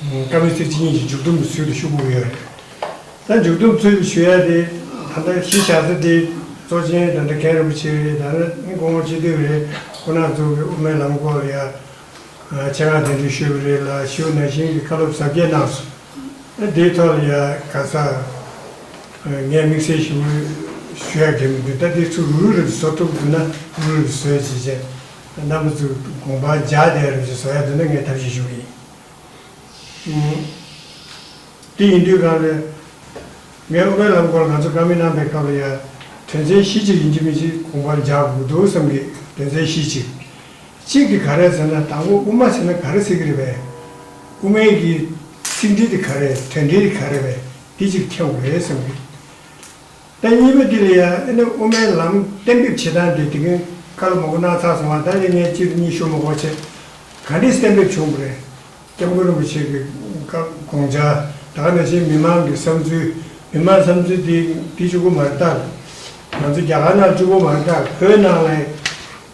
བཀའ་བློན་ཚོས་ཅི་ཉིད་ཀྱི་མཇུག་སྡོམ་གྱི་ཚུལ་དུ་ཤུགས་བསྐུར་ཡོད་རེད། ད་མཇུག་སྡོམ་ཚུལ་དུ་ཞུ་ཡ་དེ་ད་ལྟ་གཞི་བཞག་ཚུལ་དེ་གཙོ་ཆེན་དང་འདྲ་མཁན་རིན་པོ་ཆེ་རེད་ད་ནི་སྐུ་ངོ་སྤྱི་འཐུས་རེད་སྐུ་ནག་འཛུགས་པའི་དབུ་མའི་ལམ་སྐོར་ལ་ཡ་ཆེ་ངག་འདོན་འགྲེལ་ཞུས་པ་རེད་ལ་ཞུ་ན་ཞིང་གི་བཀའ་སློབ་ཟབ་རྒྱས་གནང་སོང་ཨ་དེའི་ཐོག་ལ་ཡ་ག་ས་ངས་དམིགས་བསལ་ཞུ་ཞུ་ཡ་དགོས་མི་འདུག་ད་དེའི་ཚུལ་རུ་རུ་རེ་བཟོ་ཐུབ་འདུག་ན་རུ་རེ་བཟོས་ཇི་བྱས། རྣམ་པ་གཙོས་དགོངས་པ་བརྒྱ་སྟེ་རབ་བྱེད་སོ་ཡ་དུ་ནི་ངའི་ཐབས་ཤེས་ཤོག་ཡིན། དེ་ཡིན་དུས་གང་ལས། ངའི་དབུ་མའི་ལམ་སྐོར་ང་ཚོ་བཀའ་མི་སྣང་པའི་སྐབས་ལ་ཡང། དོན་ཚན་བཞི་གཅིག་ཡིན་གྱི་མིན་གཅིག་དགོངས་པར་འཇགས་དགོས་འདུག་བསམ་གི་དོན་ཚན་བཞི་གཅིག། གཅིག་དེ་ག་རེད་ཟེར་ན་དང་པོ་དབུ་མ་ཟེར་ན་ག་རེ་ཟེར་གི་རེད་པས། དབུ་མའི་གི། ཚིག་འགྲེལ་དེ་ག་རེད་དོན་འགྲེལ་དེ་ག་རེད་པས་འདི་གཅིག་འཐེན་དགོས་རེད་བསམ་གི། ཟླ་གཉིས་པའི་དུས་ལ་ཡང་ཨེ་ནི་དབུ་མའི་ལམ་གཏན་འབེབས་བྱེད་སྟངས་དེ་དེ་གིན་ཁ་ལོ་མོ་གོ་ནག་ཚགས་སོང་བ་ད་ལས་ངས་སྤྱིར་གཉིས་ཤོ་མོ་གོ་བྱས། ག་འདྲིས་གཏན་འབེབས་བྱུང་བ་རེད། སྐྱབས་མགོན་རིན་པོ་ཆེ་གི་སྐབས་དགོངས་འཆར་དག་ནས་བཞིན་མི་མང་གི་བསམ་ཚུལ་མི་མང་བསམ་ཚུལ་དེ་འདི་བཅུ་དགུ་མ་རེད་ད། ང་ཚོ་རྒྱ་གར་ནང་བཅུ་དགུ་མ་རེད་ད་བོད་ནང་ལ།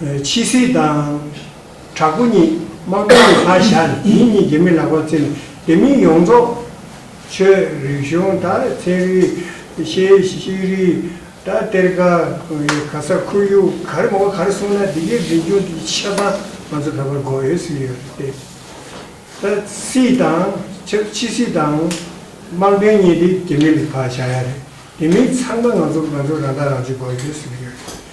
ཕྱི་སྲིད་དང། དྲག་པོ་གཉིས་དམག་དོན་གྱི་ལྷ་བཞག་ནས་དེ་གཉིས་ཀྱི་མི་ལག་པར་བརྩིས་ནས་དེ་མིན་ཡོངས་རྫོགས། ཆོས་རིག་གཞུང་དང་ཚན་རིག། ཤེས་རིག། དང་གཏེར་ཁ། ག་ས་ཁོར་ཡུག་ག་རེ་མང་བོ་ག་རེ་གསུངས་ན་དེ་གའི་འཛིན་སྐྱོང་དེ་གའི་ཆབ་འབངས་ང་ཚོ་ད་བར་འགོ་ཡོད་ཟིན་ཡོད་རེད་དེ། ད་སྲིད་དང། ཕྱི་སྲིད་དང། དམག་དོན་གཉིས་དེ་གི་མི་ལ་བཞག་ཡ་རེད་དེ་མིན་ཚང་མ་ང་ཚོ་ང་ཚོ་རང་ཐག་རང་གཅོད་འགོ་ཡོད་ཟིན་ཡོད་རེད།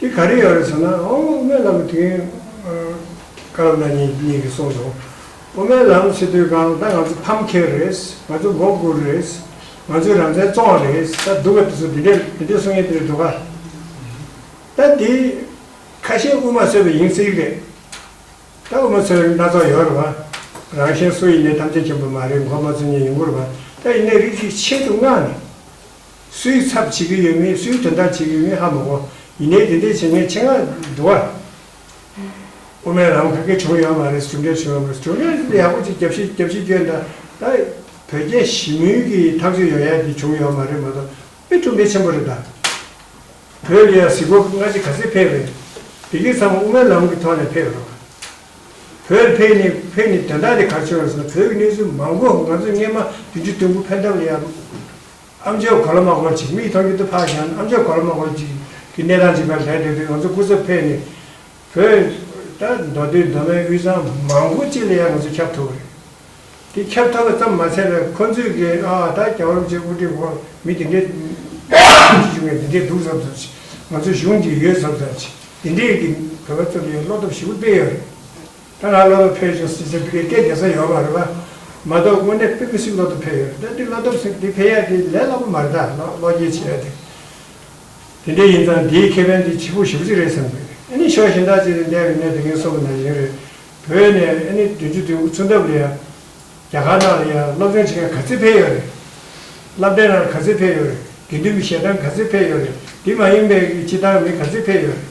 དེ་ག་རེ་ཡོད་རེད་ཟེར་ན་ཨོ་སྨན་ལམ་དུས་ཡུན་སྐར་མ་གཉིས་གཉིས་ཀྱི་སོང་སོང། ཨོ་སྨན་ལམ་ཕྱི་དུས་གང་ལྟ་ང་ཚོ་ཕམ་ཁེ་རེད། ང་ཚོ་མགོ་སྒུར་རེད། ང་ཚོའི་རང་བཙན་བཙོང་བ་རེད། ད་སྡུག་ག་དེ་ཚོ་དེ་འདྲས་དེ་འདྲས་གསུང་ཡས་དེ་རེད་འགྲོ་ག། ད་དེ་ཁ་ཞེ་དབུ་མ་ཚོས་པའི་ཡིན་ཚིག་རེད། ད་དབུ་མ་ཚོས་སྣ་ཚོགས་ཡོད་རེད་པ། རང་གཞན་སུ་ཡིན་ནས་ཐམས་ཅད་མཁྱེན་པ་མ་རེད་མགོ་མ་ཚོས་ཉན་ཡོང་གི་རེད་པ། ད་ཡིན་ནས་རིགས་གཅིག་ཆེད་དུ་མངགས་ནས། སུའི་ཚབ་བྱེད་ཀྱི་ཡོད་མེད་སུའི་དོན་དག་བྱེད་ཀྱི་ཡོད་མེད་ཧ་མི་གོ། ཡིན་ནའི་དེ་འདྲའི་བྱེད་མཁན་ཆེད་མངགས་འགྲོ་བ། དབུ་མའི་ལམ་ཁ་ཁེ་བྱུང་ཡོད་མ་རེད་གྲུབ་འབྲས་བྱུང་ཡོད་མ་རེད་གྲུབ་འབྲས་ཡག་པོ་ཅིག་རྒྱབ་ཤི་རྒྱབ་ཤི་བསྐྱོན་ད་ད་བོད་རྒྱ་ཞི་མོལ་གྱི་ཐག་གཅོད་ཡོང་ཡག་གི་བྱུང་ཡོད་མ་རེད་མ་གཏོགས་དཔེ་གྲུབ་འབྲས་ཆེན་པོ་རེད་ད། བོད་ཀྱི་ཡང་གཟིགས་སྒོ་སྔ་ཕྱི་ག་ཚད་འཕེལ་བས། དེ་གའི་ཚང་མ་དབུ་མའི་ལམ་གྱི་ཐོག་ནས་འཕེལ་ཡོད་རེད། བོད་འཕེལ་ནི་འཕེལ་ནི་དོན་དག་དེ་གར་བྱུང་ཡོད་ཟེར་ན་བོད་ཀྱི་གནས་ཚུལ་མང་པོ་ང་ཚོས་སྔས་མ་བདུན་ཅུ་དོན་དགུ་ཕན་ཐབས་ལ་ཡག། ཨ་མཆོག་གོ་ལ་མ་སྐོར་ཅིག་མིག་མཐོང་རྒྱུ་དུ་འཕགས་ཀྱང་ཨ་མཆོག་གོ་ལ་མ་སྐོར་ཅིག་གི་གནས་སྟངས་ཅིག་པར་ལས་འདོད་དུས་ང་ཚོ་སྐུ་ཚབ་ཕེབས་ནས་བོད་ལྟར་མདོ་སྟོད་མདོ་སྨད་དབུས་གཙང་མང་པོ་གཅིག་ལ་ཡང་ང་ཚོ་ཁྱབ་ཐུབ་རེད། དེ་ཁྱབ་ཐུབ་པ་ཙམ་མ་ཚད་པས་ཁོ་ཚོས་ཀྱི་ཨ་ཨ་ད་རྒྱ་བོད་མི་ཆོས་དབུ་ཁྲིད་སྐོར་མི་དེ་འདྲས་ཁྱི་བྱུང་ངས་དེ་འདྲས་འདུག་བསམ་བསམ་ཅིག་ང་ཚོ་གཞུང་འདིར་ཡོད་བསམ་བསམ་ཅིག་དེ་འདྲས་ཀྱི་བོད་པ་ཚོ་ལ་ཡང་བློ་སྟོབས་ཞིག་པོ་སྤེལ་ཡོད་རེད། ད་ང་སློབ་གྲྭ་ཕེབས་བྱུང་ཟེར་ཚེ་བོད་སྐད་རྒྱལ་ས་ཡོད་པ་རེད་པ། མ་གཏོགས་དངོས་གནས་པི་པི་སི་སློབ་གྲྭ་ཕེབས་ཡོད་རེད་ད་འདི་སློབ་གྲྭ་འདི་ཕེབས་ཡག་འདི་ལས་སླ་པོ་མ་རེད་ད་ལོག་སྐྱེལ་བྱེད་ཡག་འདི། དེ་འདྲ་ཡིན་ཙང་འདིའི་ཁེ་ཕན་འདི་བྱེད་པོ་ཞིབ་གཅིག་རེད་བསམ་གི་རེད་ཨེ་ནི་ཕྱོགས་གཞན་དག་ཅིག་ནས་འདས་པའི་གནས་དེ་གིན་གསོ་པོ་ན་བཞིན་རེད་བོད་ནས་ཨེ་ནི་བདུན་ཅུ་བདུན་དགུ་ཚུན་ཐབས་ལ་ཡང། རྒྱ་གར་ནང་ལ་ཡང་སློབ་སྦྱོང་བྱེད་མཁན་ག་ཚད་ཕེབས་ཡོད་རེད། བསླབ་གྲྭའི་ནང་ག་ཚད་ཕེབས་ཡོད་རེད་དགེ་འདུན་པའི་ཞལ་ཐང་ག་ཚད་ཕེབས་ཡོད་རེད་འདི་མ་ཡིན་པའི་སྤྱི་བཏང་མི་ག་ཚད་ཕེབས་ཡོད་རེད།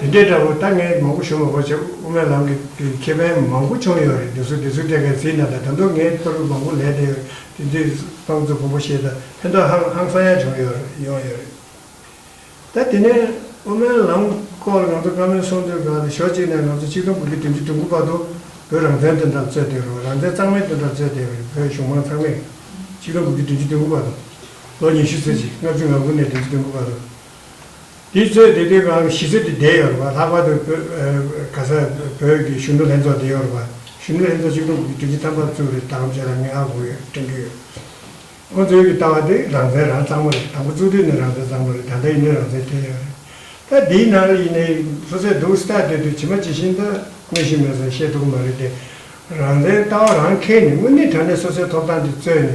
དེ་འདྲའི་དགྲ་བོ་ལྟ་ངན་མང་པོ་བྱུང་བ་བར་ཆད་དབུ་མའི་ལམ་གྱི་ཁེ་ཕན་མང་པོ་བྱུང་ཡོད་རེད་འདུག་སུ་དེ་ཚོ་བལྟས་ཀའི་ཚིག་ནང་དང་དང་དུ་ངས་ཚོར་བ་མང་པོ་ལས་དེ་དེ་ཚོའི་སྤང་ཚུལ་བོང་བུ་བཤད་ད་ཕན་ཐོག་ཧང་ཧང་སང་ཡང་བྱུང་ཡོད་ཡོང་ཡོད་རེད་ད་དེ་ནས་དབུ་མའི་ལམ་སྐོར་ལ་ང་ཚོ་བཀའ་མོལ་གསུང་དུས་གང་ལྟར་ཞོག་གཅིག་ནས་ང་ཚོ་ཆིག་སྟོང་དགུ་བརྒྱ་བདུན་ཅུ་དྲུག་དགུ་བར་དུ་བོད་རང་བཙན་དོན་དག་རྩོད་བསྡད་རུང་རང་བཙན་གཙང་མའི་དོན་དག་རྩོད་བསྡད་རུང་བོད་གཞུང་མང་ཚང་མས་ཆིག་སྟོང་དགུ་བརྒྱ་བདུན་ཅུ་དོན་དགུ་བར་དུ། ལོ་ཉི་ཤུ་ཚེས་ཆེ་ལྔ་བཅུ་ང་དགུ་ནས་བདུན་ཅུ་བདུན་གོ་བར་རུ། དེའི་ཚེ་སྡེ་དེའི་གང་གི་གཞིས་རྩེ་དེ་བསྡད་ཡོད་རུ། ལྷག་པར་དུ་ག་ས་བོད་ཀྱི་གཞོན་ནུ་ལྷན་ཚོགས་བསྡད་ཡོད་རུ། གཞོན་ནུ་ལྷན་ཚོགས་གཅིག་ལུང་གི་དྲིན་ཅན་ཐམས་ཅད་བཙུགས་རེད་དམ་ཅེས་རང་ཉིད་ཧ་གོ་ཡོད་དྲན་གྱི་ཡོད། ཁོང་ཚོའི་གི་ལྟ་བ་དེ་རང་བཙན་རང་གཙང་མོ་རེད་དང་པོ་བཙུགས་དུས་ནས་རང་བཙན་གཙང་མོ་རེད་ད་ལྟ་ཡིན་ནའི་རང་བཙན་སྟེར་ཡོད་རེད། ད་འདིའི་ནང་ལ་ཡིན་ནའི་སོ་སའི་སྡུག་ས་ཐག་བསྡོད་དུས་ཇི་མ་ཇི་བཞིན་ད་དངོས་གཞི་མེད་ས་ཤེས་ཐུབ་གི་མ་རེད་དེ། རང་བཙན་ལྟ་བ་རང་མཁས་ནས་དངོས་གནས་དྲང་གནས་སོ་སའི་ཐོབ་ཐང་དེ་རྩོད་ནས་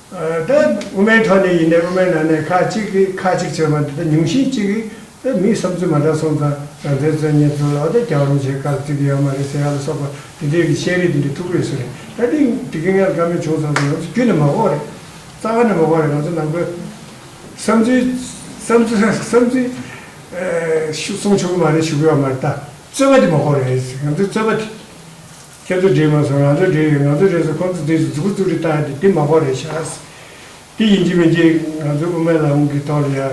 ད་དབུ་མའི་ཐོག་ནས་ཡིན་ནའི་དབུ་མའི་ནང་ནས་ཁ་ཅིག་གིས་ཁ་ཅིག་བྱས་པ་འདི་དག་ཉུང་ཤས་ཅིག་གིས་ད་མིའི་བསམ་ཚུལ་མ་འདྲ་སོང་ཙང་རང་བཙན་རྩོད་ཉེན་དུ་ལག་བརྡ་རྒྱག་རུང་བྱེད་ག་ལ་བརྩི་གི་ཡོད་མ་རེད་ཟེར་ཡག་ལ་སོགས་པ་དེ་འདྲའི་གི་བཤད་རིས་དེ་འདྲའི་ཐུགས་རེ་སུ་རེད་ད་དེ་འདི་གི་ངས་བཀའ་མོལ་བྱུང་སོང་ཙང་ང་ཚོ་རྒྱུད་ནས་མ་འོངས་རེད་རྩ་བ་ནས་མ་འོངས་རེད་ང་ཚོ་ནང་པའི་བསམ་ཚུལ་བསམ་ཚུལ་བསམ་ཚུལ་གསུང་ཆོག་གི་མ་རེད་ཞུ་གི་ཡོད་མ་རེད་ད་རྩོད་པ་དེ་མ་འོངས་རེད་ང་ཚོའི་རྩོད་པ་དེ། ཁྱེད་ཚོ་བྲིས་མ་སོང་ང་ཚོ་བྲིས་ཡོད་ང་ཚོ་བྲིས་སོང་ཁོང་ཚོ་བྲིས་སོང་ཟུར་བཙུགས་རེ་བཏང་ཡོད་དེ་དེ་མ་ཁོག་རེད་ཤག་དེ་ཡིན་གྱི་མིན་གྱི་ང་ཚོ་དབུ་མའི་ལམ་གྱི་ཐོག་ལ་ཡང་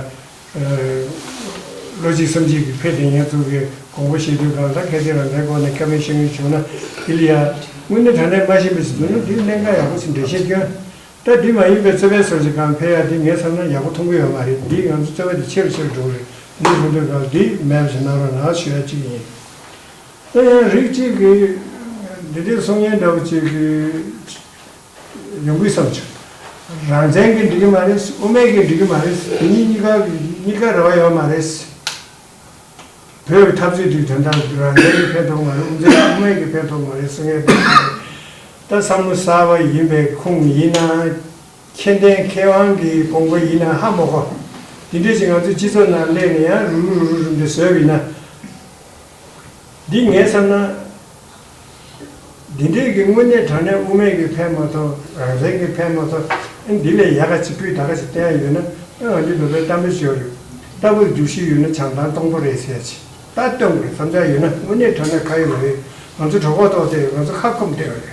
བློ་གཅིག་སེམས་གཅིག་གིས་ཕེབས་ཏེ་ཉེས་འཛུགས་ཀྱི་དགོངས་པ་བཞེས་དུས་གང་ལྟར་གལ་ཏེ་རང་འདྲའི་སྐོར་ནས་ཁ་མིན་ཤ་མིན་བྱུང་ན་དེ་ལ་ཡང། དངོས་གནས་དྲང་གནས་སྨྲ་ཤེས་མི་སྲིད་འདུག་ན་འདི་གནད་འགག་ཡག་པོ་ཞིག་འགྲེལ་བཤད་སྐྱོན། ལྟར་འདི་མ་ཡིན་པའི་རྩོད་པའི་སོར་ཆེ་གང་འཕེལ་ཡག་འདི་ངས་བསམ་ན་ཡག་པོ་མཐོང་གི་ཡོད་མ་རེད་འདིས་ང་ཚོ་རྩོད་པ་འདི་ཆེ་རུ་ཆེ་རུ་འགྲོ་གི་རེད་འདི་ལྷུང་དོན་གང་ལ་འདིས་མེད་པ་ཞིག་གནང་རོགས་གནང་ཞུ་ཡ་གཅིག་ཡིན། དེ་ཡང་རིགས་གཅིག་གི་འདི་འདྲའི་གསུང་སྙན་འདྲ་བོ་གཅིག་གི་ཡོང་གི་བསམ་ཆོག་རང་བཙན་གི་འགྲིག་གི་མ་རེད་དབུ་མེད་གི་འགྲིག་གི་མ་རེད་དེ་གཉིས་གཉིས་ཀ་གཉིས་ཀ་རེ་བ་ཡོད་མ་རེད། བོད་ཀྱི་འཐབ་རྩོད་དུས་དོན་དག་རང་བཙན་གྱི་ཕན་ཐོག་མ་རེད་དབུ་མཛད་དབུ་མེད་ཀྱི་ཕན་ཐོག་མ་རེད་གསུང་སྙན་འདྲ་བོ་གཅིག་རེད། ད་བསམ་བློ་གསར་བ་ཡིན་པའི་ཁུངས་ཡིན་ན་མཁྱེན་ལྡན་མཁས་དབང་གི་དགོངས་པ་ཡིན་ན་ཧ་མོ་གོ། འདི་འདྲས་ཀྱི་ང་ཚོའི་སྤྱི་ཚོགས་ནང་སླེབས་ནས་ཡང་རུ་རུ་རུ་རུ་རུ་འདི་བཟོས་ཡིན་ན། འདི་ངས་བསམ་ན། འདི་འདྲའི་གི་དངོས་གནས་དྲང་གནས་དབུ་མེད་ཀྱི་ཕན་མ་ཐོག་རང་བཙན་གྱི་ཕན་མ་ཐོག་ཨ་འདི་ལས་ཡག་ག་ཅིག་སྤུས་དག་ག་ཅིག་བསྟན་ཡ་ཡོད་ན་ཨ་ང་འདི་ལོ་པའི་གཏམ་རེ་ཤོར་ཡོད་ལྟ་བུར་རྒྱུགས་ཤིག་ཡོད་ན་བྱང་ཐང་སྟོང་པོ་རེད་ཟེར་ཡ་ཆེ་ད་སྟོན་དགོས་བསམ་འཆར་ཡོད་ན་དངོས་གནས་དྲང་གནས་ཁ་ཡོད་མ་ཡོད་ང་ཚོ་གྲོགས་པོ་ཐོག་བསྡད་ཡོད་ང་ཚོ་ཁ་ཁོམ་བསྡད་ཡོད།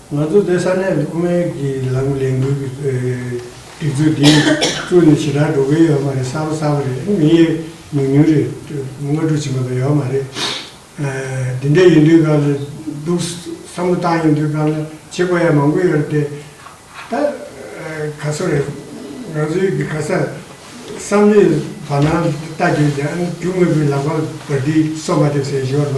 ང་ཚོ་དེ་ས་གནས་ཐོག་མའི་གི་ལམ་ལས་འགུལ་གི་སྒྲིག་ཚུལ་འདི་བཙུགས་ནས་ཇི་ལྟར་འགྲོ་གི་ཡོད་མ་རེད་གསལ་པོ་གསལ་པོ་རེད་མི་ཡི་ཉུང་ཉུང་རེད་དངོས་སྒྲུབ་བྱེད་མ་ཐུབ་ཡོད་མ་རེད། དེ་འདྲ་ཡིན་དུས་སྐབས་ལ་སྡུག་བསམ་བློ་བཏང་ཡོང་དུས་སྐབས་ལ་བྱེད་དགོས་ཡ་མང་པོ་ཡོད་རེད་ད། ག་ཚོད་རེད་ང་ཚོ་ཡི་གི་ག་ས་བསམ་བློའི་བར་སྣང་ལྟ་རྒྱུ་ཡིན་ན་རྒྱུ་དངོས་པོའི་ལག་པ་བར་འདི་སོ་མ་འདེབས་ཟེར་ཞོར་ལ།